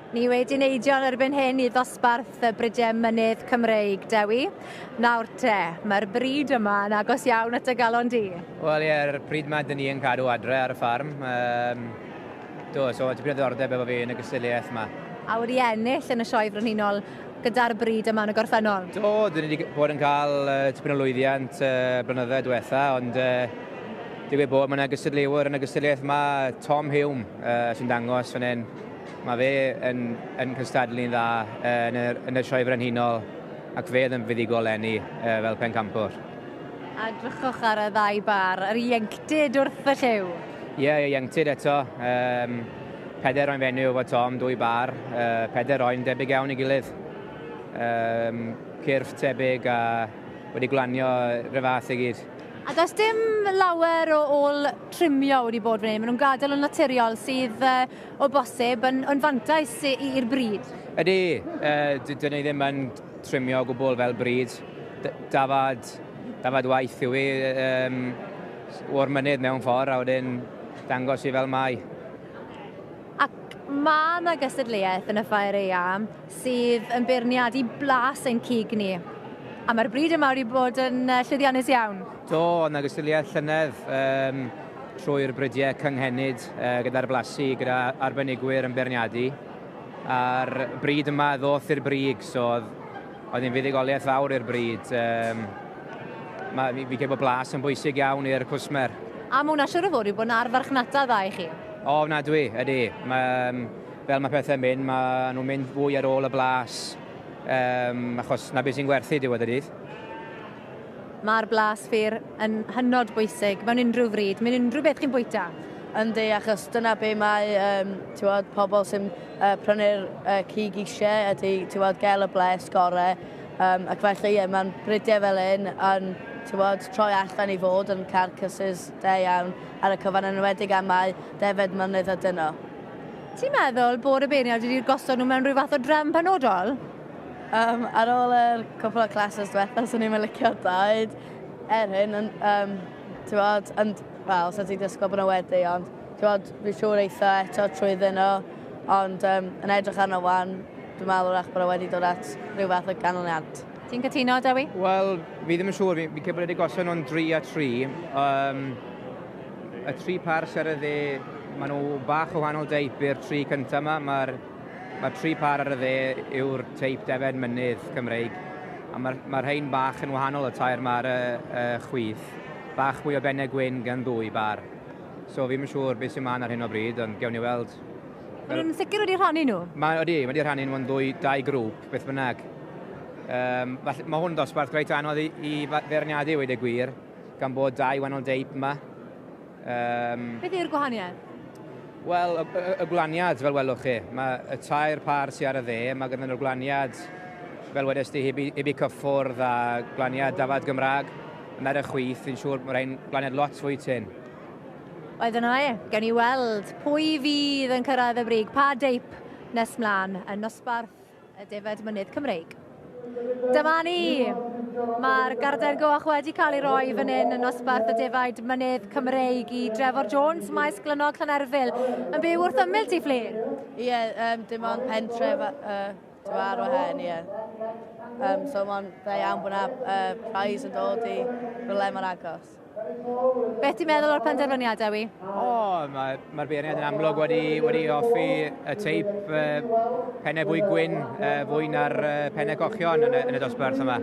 Ni wedi neidio yn erbyn hyn i ddosbarth y Brydiau Mynydd Cymreig, Dewi. Nawr te, mae'r bryd yma yn agos iawn at y galon di. Wel ie, yr pryd mae dyn ni yn cadw adre ar y ffarm. Um, do, so tipyn o ddordeb efo fi yn y gystiliaeth yma. A wedi ennill yn y sioe frenhinol gyda'r bryd yma yn y gorffennol? Do, dyn ni wedi bod yn cael uh, tipyn o lwyddiant uh, blynyddoedd diwetha, ond uh, digwydd bod mae yna gystadleuwr yn y gystadleuaeth yma, Tom Hume, uh, sy'n dangos fan hyn. Mae fe yn, yn cystadlu'n dda uh, yn, y, yn y sioe frenhinol ac fe oedd yn fuddigol enni uh, fel pencampwr. A drychwch ar y ddau bar, yr ieuenctid wrth y lliw. Ie, yeah, ieuenctid eto. Um, Peder oen fenyw efo Tom, dwy bar, peder oen debyg iawn i gilydd. Cyrff tebyg a wedi glanio rhyw fath i gyd. A does dim lawer o ôl trimio wedi bod fan hyn, maen nhw'n gadael yn naturiol sydd o bosib yn fantais i'r brid. Ydy, dydyn ni ddim yn trimio o gwbl fel brid, dafad waith yw hi, o'r mynydd mewn ffordd a wedyn dangos i fel mae. Ac mae yna gystadleuaeth yn y Ffair Eang sydd yn beirniadu blas ein cig ni. A mae'r bryd yma wedi bod yn llwyddiannus iawn. Do, oedd yna gystadleuaeth llynedd um, trwy'r brydiau cynghenid uh, gyda'r blasu, gyda arbenigwyr yn beirniadu. A'r bryd yma ddoth i'r brig, so oedd Oedd hi'n fuddugoliaeth fawr i'r bryd. Um, mae, fi, fi bod blas yn bwysig iawn i'r cwsmer. A mae hwnna siwr o fod yw bod yna arfarchnata dda i chi? O, na dwi, ydy. Mae, um, fel mae pethau'n mynd, mae nhw'n mynd fwy ar ôl y blas, um, achos na beth sy'n gwerthu diwedd y dydd. Mae'r blas ffyr yn hynod bwysig mewn unrhyw fryd, mewn unrhyw beth chi'n bwyta. Yndi, achos dyna be mae um, tiwod, pobl sy'n uh, prynu'r uh, cig eisiau ydy tiwod, gael y bles gorau. Um, ac felly, ie, mae'n bridiau fel un yn tiwod, troi allan i fod yn carcasses da iawn ar y cyfan yn enwedig am mae defed mynydd a dyno. Ti'n meddwl bod y beirniaid wedi'r gosod nhw mewn rhyw fath o drefn penodol? Um, ar ôl yr cwpl o classes diwetha, swn i'n licio dweud er hyn, yn, um, ti'n bod, yn, wel, swn ti'n disgwyl bod nhw wedi, ond ti'n bod, fi siŵr eitha eto trwy ddyn nhw, ond um, yn edrych arno wan, dwi'n meddwl wrach bod nhw wedi dod at rhyw fath o ganlyniad. Ti'n cytuno, Dewi? Wel, fi ddim yn siŵr, fi'n cymryd wedi gosod nhw'n 3 a 3. Um, y tri pars ar y dde, maen nhw bach o wahanol deip i'r tri cyntaf yma. Mae'r Mae'r tri pâr ar y dde yw'r teip defaid mynydd Cymreig, a mae'r ma rhain bach yn wahanol y tair ma ar y, y chwith. Bach mwy o benne gwyn gan ddwy bâr. So fi'm yn siŵr beth sy'n man ar hyn o bryd, ond gewn ni weld. Mae nhw'n sicr wedi rhannu nhw? Mae, odi, mae wedi rhannu nhw'n ddwy, dau grŵp, beth bynnag. Um, falle, mae hwn dosbarth reit anodd i, i feirniadu wedi gwir, gan bod dau wahanol deip yma. Um, Beth yw'r gwahaniaeth? Wel, y, y, y gwlaniad, fel welwch chi, mae y tair par sy'n ar y dde, mae gyda nhw'r gwlaniad, fel wedys ti, hybu, hybu cyffwrdd a gwlaniad dafad Gymraeg, yn ar y chwyth, fi'n siŵr bod rhain gwlaniad lot fwy tyn. Oedd yna e, gen i weld pwy fydd yn cyrraedd y brig, pa deip nes mlaen, yn nosbarth y defaid mynydd Cymreig. Dyma ni! Mae'r garden goch wedi cael ei roi fan hyn yn nosbarth y defaid mynydd Cymreig i Drefor Jones, maes glynog Llanerfil, yn byw wrth ymyl ti, Ffli? Ie, yeah, um, dim ond pentref uh, ar o hen, ie. Yeah. Um, so mae'n dda iawn bod yna uh, prize yn dod i rhywle mor agos. Ffled. Beth ti'n meddwl o'r penderfyniad, Dewi? O, mae'r mae beirniad yn amlwg wedi, wedi offi y teip uh, pennau fwy gwyn uh, fwy na'r uh, pennau cochion yn y, yn y dosbarth yma.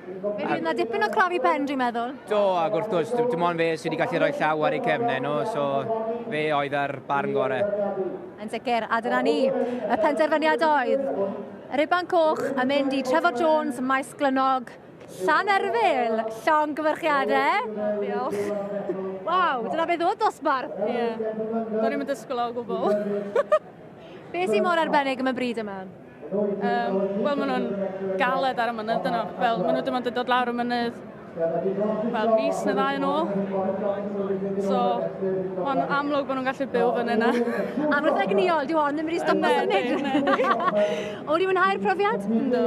Fe fydd yna dipyn o crafu pen, dwi'n meddwl. Do, ac wrth gwrs, dim ond fe sydd wedi gallu rhoi llaw ar ei cefnau nhw, so fe oedd ar barn gorau. Yn sicr, a dyna ni. Y penderfyniad oedd Riban Coch yn mynd i Trevor Jones, Maes Glynog, Llanerfyl! Llongyfarchiadau! Diolch. Waw, dyna beth oedd dosbarth! Ie. Yeah. Do'n i'n dysgwyl o gwbl. Be sy'n mor arbennig am y bryd yma? Um, Wel, maen nhw'n galed ar y mynydd yno. Fel, maen nhw dim ond yn dod lawr y mynydd fel mis neu ddau yn ôl. So, mae'n amlwg bod nhw'n gallu byw fan yna. Amlwg egniol, diw ond ddim wedi stopio symud. O'n i'n mwynhau'r profiad? Ynddo.